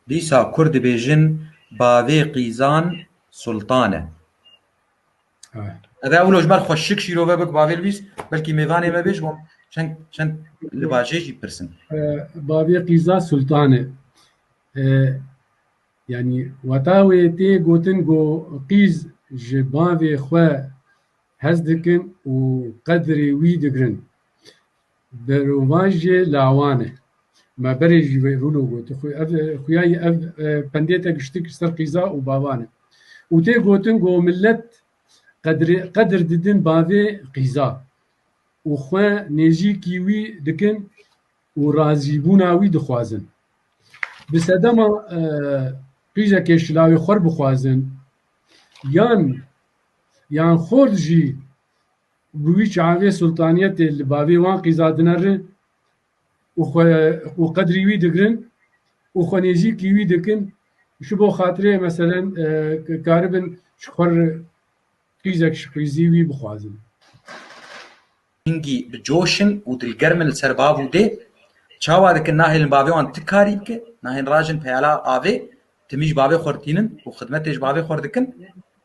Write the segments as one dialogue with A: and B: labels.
A: Dîsa kurd dibêjin bavê qîzan sultan e. Ev ewlo ji ber xwe şik şîrove bik bavê Lwîs, belkî mêvanê me bêj bûm çend çend li bajê jî pirsin. Bavê
B: qîza sultan e. Yanî weta wê tê gotin ku qîz ji bavê xwe hez dikin û qedrê wî digirin. Berovajê lawan e. Me berê jî wê rûno got. Xuya yî ev pendê te giştin kir ser qîza û bavan e. Û tê gotin ku milet qedir didin bavê qîza û xwe nêzîkî wî dikin û razîbûna wî dixwazin. Bi sedema qîzekê şilavê xwe bixwazin yan yan xort jî Bi wî çavê sultaniyetê li bavê wan qîzadine ri û xwe û qedrî wî digirin û xwe nêzîkî wî dikin ji bo xatirê meselen karibin ji xwe ri qîzek ji qîzî wî bixwazin.
A: Hingî bi coş in û dilgerm in li ser bav û dê. Çawa dikin nahêlin bavê wan ti karî bike, nahêlin rajin peyala avê Tim jî bavê xwe ditînin û xidmetê ji bavê xwe re dikin.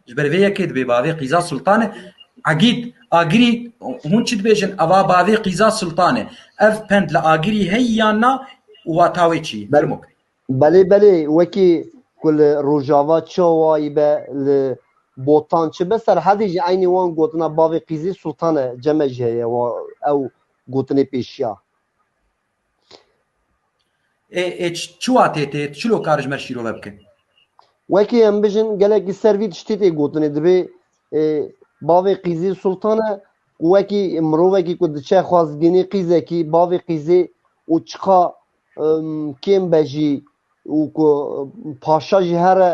A: Ji ber vê yekê dibê bavê Qîza Sultan e. Egîd, Agirî, hûn çi dibêjin? Ev a bavê Qîza Sultan e. Ev pend li Agirî heye yan na û wata wê çi ye? Fermo kir. Belê belê,
C: wekî ku li Rojava çawayî be, li Botan çi be, Serhedê jî eynî wan gotina bavê Qîzê Sultan e, ceme jî heye ew gotinê pêşiya.
A: Ê çi watê tê? Tu çilo kar ji me şîrove bike? Wekî
C: em bijin gelekî ser vî tiştî tê gotinê dibê bavê qîzê sultane û wekî mirovekî ku diçe xwazgînî qîzekî bavê qîzê û çiqa kêm be jî û ku paşa jî here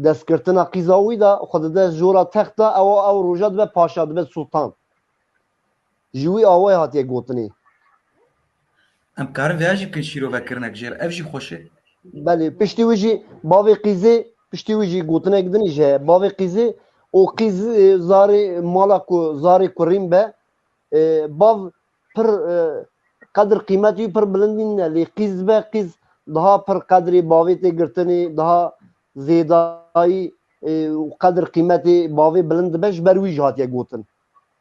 C: destgirtina qîza wî de xwe dide jora text de ew ew roja dibe paşa dibe sultan. Ji wî awayê hatiye gotinê.
A: Em karin vêya jî bikin şîrovekirine ki jêr ev jî xweş e. Belê, piştî wî
C: jî bavê qîzê piştî wî jî gotinek din î ji heye. Bavê qîzê û qîz zarê mala ku zarê kurîn be bav pir qedir qîmetî wî pir bilind nîn ne lê qîz be qîz daha pir qedrê bavê tê girtinê daha zêdayî û qedir qîmetê bavê bilind dibe ji ber wî jî hatiye gotin.